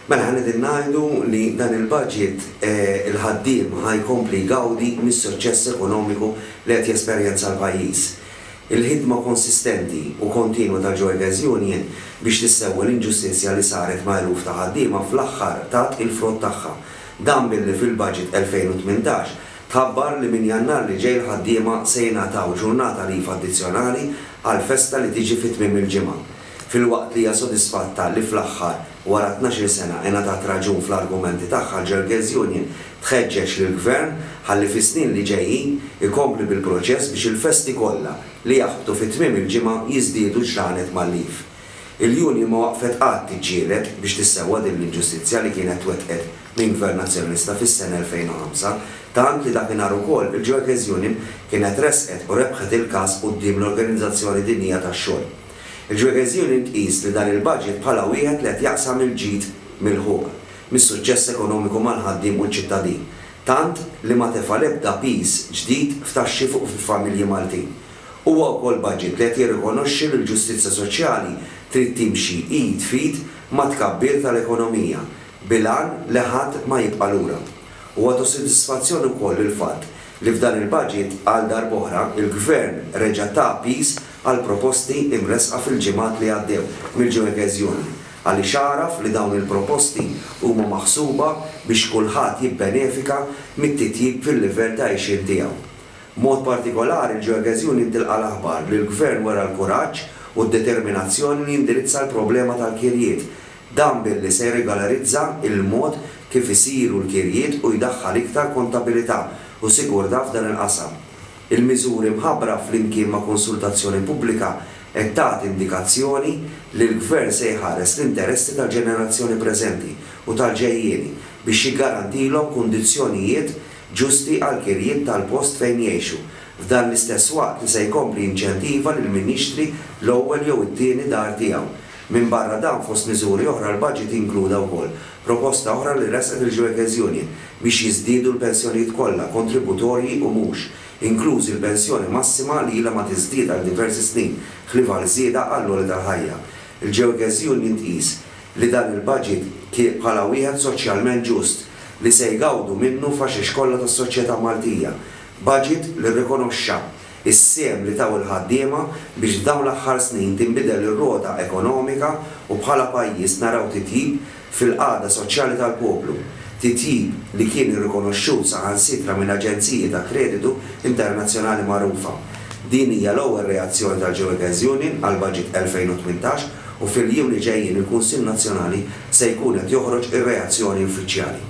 Mela ħa qegħdin ngħidu li dan il-budget il-ħaddiem ħa jkompli jgawdi mis-suċċess ekonomiku li qed jesperjenza l-pajjiż. Il-ħidma konsistenti u kontinwa tal-Joygers Union biex tissewwa l-inġustizzja li saret ma' eluf ta' ħaddiema fl-aħħar tat il-frott tagħha. Dan billi fil-budget 2018 tħabbar li minn Jannar li ġej l-ħaddiema se jingħataw ġurnata leave addizzjonali għall-festa li tiġi fi tmiem il-ġimgħa. Filwaqt li hija sodisfatta li fl-aħħar, wara tnax-il sena, ingħatat raġun fl-argumenti tagħha, l-Girlgirls Union tħeġġeġ lill-Gvern ħalli fis-snin li ġejjin ikompli bil-proċess biex il-festi kollha li jaħbtu fi tmiem il-ġimgħa jiżdiedu ġranet mal-Eve. Il-Union ma waqfet qatt tiġġieled biex tissewwa din l-inġustizzja li kienet twettqet minn Gvern Nazzjonalista fis-sena 2005, tant li dakinhar ukoll il-Girlgirls Union kienet ressqet u rebħet il-każ quddiem l-Organizzazzjoni Dinjija tax-Xogħol. Il-Ġwegeżjuni tqis li dan il-budget bħala wieħed li qed jaqsam il-ġid milħuq mis-suċċess ekonomiku mal-ħaddiem u ċ-ċittadin, tant li ma tefa' l-ebda piż ġdid f'taxxi fuq il-familji Maltin. Huwa wkoll budget li qed jirrikonoxxi li l-ġustizzja soċjali trid timxi id f'id mat-tkabbir tal-ekonomija bil-għan li ħadd ma jibqa' lura. Huwa ta' sodisfazzjon ukoll il-fatt li f'dan il-budget għal darb'oħra l-Gvern reġa' ta piż għall-proposti imressqa fil-ġimgħat li għaddew mill-Joe Ghezzione għaliex għaraf li dawn il-proposti huma maħsuba biex kulħadd jibbenefika mit-titjib fil-livell ta' għixien tiegħu. B'mod partikolari l-Joe Ghezzione tilqa' l-aħbar li l-Gvern wera l-kuraġġ u d-determinazzjoni li jindirizza l-problema tal-kirjiet Dan billi se jirregolarizza l-mod kif isiru l-kirjiet u jdaħħal iktar kontabilità u sigurtà f'dan il-qasam. Il-miżuri mħabbra flimkien ma' konsultazzjoni pubblika qed tagħti indikazzjoni li l-Gvern se jħares l-interessi tal-ġenerazzjoni preżenti u tal-ġejjieni biex jiggarantilhom kundizzjonijiet ġusti għall-kirjiet tal-post fejn jgħixu f'dan l-istess waqt li se jkompli jinċentiva lil min jixtri l-ewwel jew it-tieni dar tiegħu. Minbarra dan, fost miżuri oħra, l-baġit inkluda wkoll proposta oħra li ressqet il-Gioekes Union biex jiżdiedu l-pensjonijiet kollha, kontributorji u mhux, inklużi l-pensjoni massima li ilha ma tiżdied għal diversi snin ħlief għal żieda għall-għoli tal-ħajja. Il-Gioekes Union tqis li dan il-baġit kien bħala wieħed soċjalment ġust li se jgawdu minnu faxex kollha tas-soċjetà Maltija. Baġit li rrikonoxxa is-sehem li taw il-ħaddiema biex f'dawn l-aħħar snin tinbidel ir-rota ekonomika u bħala pajjiż naraw titjib fil-qagħda soċjali tal-poplu, titjib li kien irrikonoxxut saħansitra minn aġenziji ta' kreditu internazzjonali magħrufa. Din hija l-ewwel reazzjoni tal-Geoekens Union għall-Baġit 2018 u fil-jiem li ġejjin il-Kunsill Nazzjonali se jkun qed joħroġ ir-reazzjoni uffiċjali.